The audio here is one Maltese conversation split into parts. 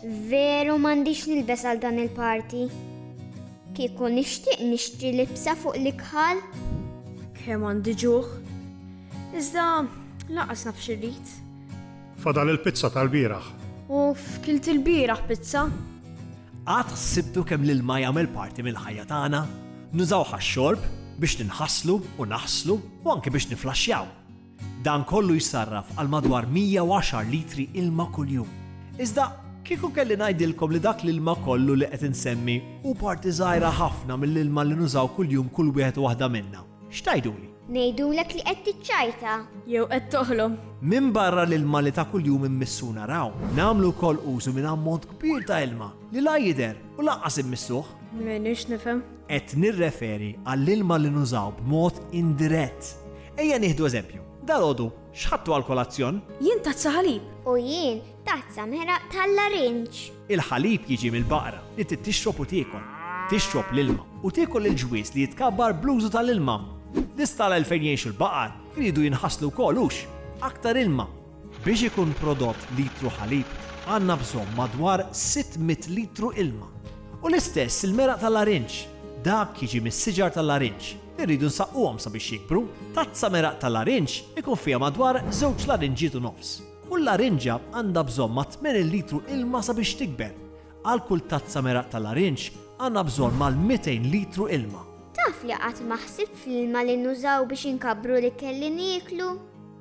Veru m'għandix nilbes għal dan il-party. Kieku nixtieq nixtri libsa fuq l-ikħal. Kemm għandi ġuħ. Iżda lanqas naf x'irrid. Fadal il-pizza tal-bieraħ. Uff, kilt ilbieraħ pizza. Qatt ħsibtu kemm l-ilma jagħmel parti mill-ħajja tagħna? Nużawh għax-xorb, biex ninħaslu u naħslu u anke biex niflaxxjaw. Dan kollu jsarraf għal madwar 110 litri ilma kuljum. Iżda kieku kelli ngħidilkom li dak l-ilma kollu li qed insemmi hu parti żgħira ħafna mill-ilma li nużaw kuljum kull wieħed u waħda minna. X'tgħiduli? Ngħidulek li qed tiċċajta. Jew qed toħlom. Minbarra l-ilma li ta' kuljum immissu u naraw, nagħmlu wkoll użu minn ammont kbir ta' ilma li la jidher u lanqas immissuh. M'iniex nifhem. Qed nirreferi għall-ilma li nużaw b'mod indirett. Ejja nieħdu eżempju. Dalgħodu x'ħadtu għall-kolazzjon? Jien tazza ħalib. U jien Tazza mħeraq tal-larinġ. Il-ħalib jiġi mill-baqra li trid tixrob u tiekol. Tixrob l-ilma u tiekol il-ġwież li jitkabbar bl-użu tal-ilma. L-istalla il-fejn jgħixu l-baqar iridu jinħaslu wkoll hux? Aktar ilma! Biex ikun prodott litru ħalib għandna bżonn madwar 600 litru ilma. U l-istess il-meraq tal-larinġ. Dak jiġi mis-siġar tal-larinġ li rridu nsaqquhom sabiex jikbru. Tazza meraq tal-larinġ ikun fiha madwar żewġ larinġiet u nofs. Kull larinġja għandha bżonn ma' 80 litru ilma sabiex tikber. Għal kull tazza meraq ta' larinġ għandna bżonn mal-200 litru ilma. Taf li qatt ma ħsibt fl-ilma li nużaw biex inkabbru l-ikel li nieklu?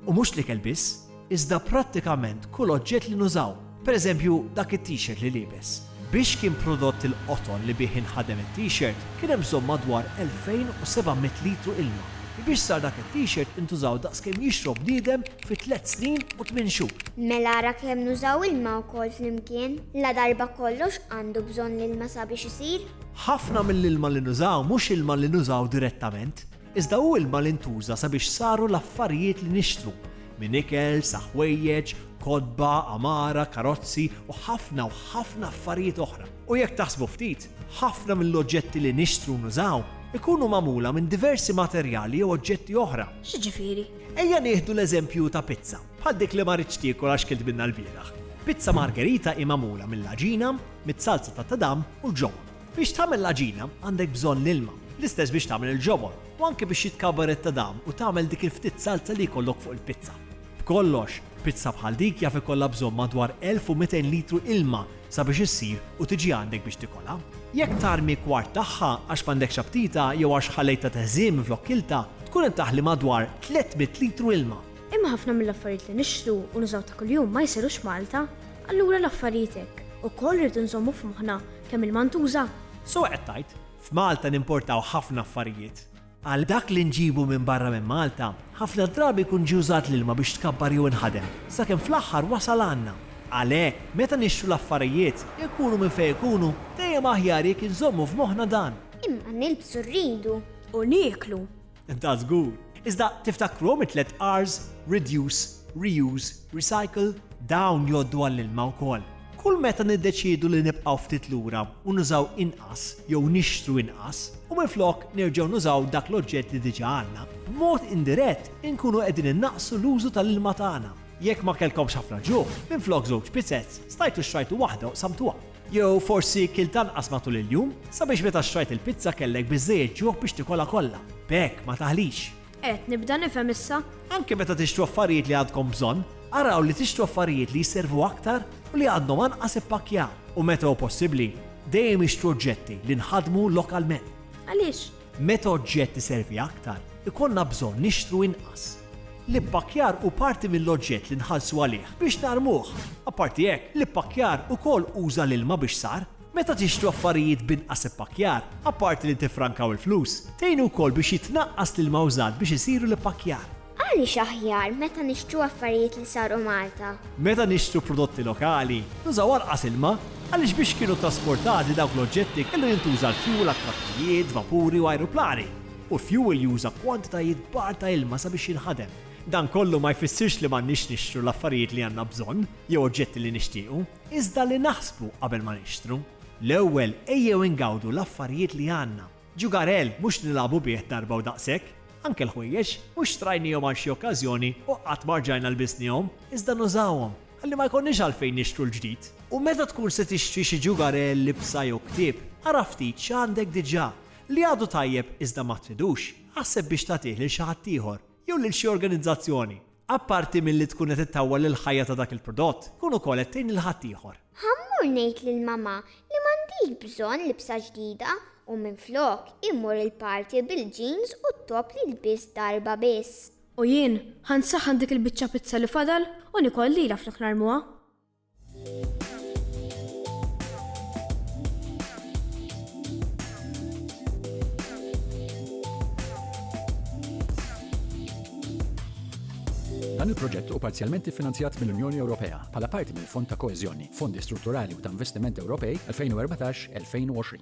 U mhux l-ikel biss, iżda prattikament kull oġġett li nużaw, pereżempju dak it-t-shirt li liebes. Biex kien prodott il-qoton li bih inħadem it-T-shirt, kien hemm bżonn madwar 2,700 litru ilma. Biex sar dak it-T-shirt intużaw daqs kemm jixrob bniedem fi tliet snin u tmien xhur. Mela ara kemm nużaw ilma wkoll flimkien! Ladarba kollox għandu bżonn l-ilma sabiex isir. Ħafna mill-ilma li nużaw mhux ilma li nużaw direttament. Iżda hu ilma li ntuża sabiex saru l-affarijiet li nixtru, minn ikel sa ħwejjeġ, kotba, għamara, karozzi u ħafna u ħafna affarijiet oħra. U jekk taħsbu ftit, ħafna mill-oġġetti li nixtru u nużaw ikunu magħmula minn diversi materjali jew oġġetti oħra. X'jiġifieri? Ejja nieħdu l-eżempju ta' pizza, bħal dik li ma ridtx tiekol għax kilt minnha l-bieraħ. Pizza Margherita hi magħmula mill-għaġina, mit-salza tat-tadam u l-ġobon. Biex tagħmel l-għaġina għandek bżonn l-ilma, l-istess biex tagħmel il-ġobon, u anke biex jitkabar it-tadam u tagħmel dik il-ftit salza li jkollok fuq il-pizza. B'kollox, pizza bħal dik jaf ikollha bżonn madwar 1,200 litru ilma sabiex issir u tiġi għandek biex tikolha. Jekk tarmi kwart tagħha għax m'għandekx aptita jew għax ħallejtha teħżien minflok kiltha, tkun qed taħli madwar 300 litru ilma. Imma ħafna mill-affarijiet li nixtru u nużaw ta' kuljum ma jsirux Malta. Allura l-affarijiet hekk ukoll irridu nżommu f'moħħna Kemm ilma ntuża? Sewwa qed tgħid. F'Malta nimportaw ħafna affarijiet. Għal dak li nġibu minn barra minn Malta, ħafna drabi jkun ġie użat l-ilma biex tkabbar jew inħadem, sakemm fl-aħħar wasal għandna. Għalhekk, meta nixtru l-affarijiet, ikunu minn fejn ikunu, dejjem aħjar jekk inżommu f'moħħna dan. Imma nilbsu rridu. U nieklu. Ta' żgur! Iżda tiftakruhom it-tliet R's, reduce, reuse, recycle? Dawn jgħoddu għall-ilma wkoll. Kull meta niddeċiedu li nibqgħu ftit lura u nużaw inqas jew nixtru inqas, u minflok nerġgħu nużaw dak l-oġġett li diġà għandna, b'mod indirett inkunu qegħdin innaqqsu l-użu tal-ilma tagħna. Jekk ma kellkomx ħafna ġuħ, minflok żewġ pizzez, stajtu xtrajtu waħda u qsamtuha. Jew forsi kilt anqas matul il-jum, sabiex meta xtrajt il-pizza kellek biżżejjed ġuħ biex tikolha kollha. B'hekk ma taħlix. Qed nibda nifhem issa. Anke meta tixtru affarijiet li għandkom bżonn, araw li tixtru affarijiet li jservu aktar u li għandhom anqas ippakkjar. U meta hu possibbli, dejjem ixtru oġġetti li nħadmu lokalment. Għaliex? Meta oġġett iservi aktar, ikollna bżonn nixtru inqas. L-ippakkjar hu parti mill-oġġett li nħallsu għalih biex narmuh. Apparti hekk, l-ippakkjar ukoll uża l-ilma biex sar. Meta tixtru affarijiet b'inqas ippakkjar, apparti li tiffrankaw il-flus, tgħinu wkoll biex jitnaqqas l-ilma użat biex isiru l-ippakkjar. Għaliex aħjar meta nixtru affarijiet li saru Malta? Meta nixtru prodotti lokali, nużaw anqas ilma, għaliex biex kienu ttrasportati dawk l-oġġetti kellu jintuża l-fjuwil għat-trakkijiet, vapuri u ajruplani, u l-fjuwil juża kwantitajiet kbar ta' ilma sabiex jinħadem. Dan kollu ma jfissirx li m'għandniex nixtru l-affarijiet li għandna bżonn jew oġġetti li nixtiequ, iżda li naħsbu qabel ma nixtru. L-ewwel ejjew ingawdu l-affarijiet li għandna. Ġugarell mhux nilagħbu bih darba u daqshekk. Anke l-ħwejjeġ mhux xtrajniehom għal xi okkażjoni u qatt ma rġajna lbisniehom, iżda nużawhom ħalli ma jkollniex għalfejn nixtru l-ġdid. U meta tkun se tixtri xi ġugarell, libsa jew ktieb, ara ftit x'għandek diġà. Li għadu tajjeb iżda ma tridux, aħseb biex tagħtih lil xi ħaddieħor. jew lil xi organizzazzjoni, apparti milli tkun qed ittawwal lill-ħajja ta' dak il-prodott, tkun ukoll qed tgħin lil ħaddieħor. Ħa mmur ngħid lil mamà li m'għandix bżonn libsa ġdida u minflok immur il-party bil-jeans u t-top li lbist darba biss. U jien ħa nsaħħan dik il-biċċa pizza li fadal u nikol lilha flok narmuha. Dan il-proġett u parzjalment iffinanzjat mill-Unjoni Ewropea bħala parti mill-Fond ta' Koeżjoni, Fondi Strutturali u ta' Investiment Ewropej 2014-2020.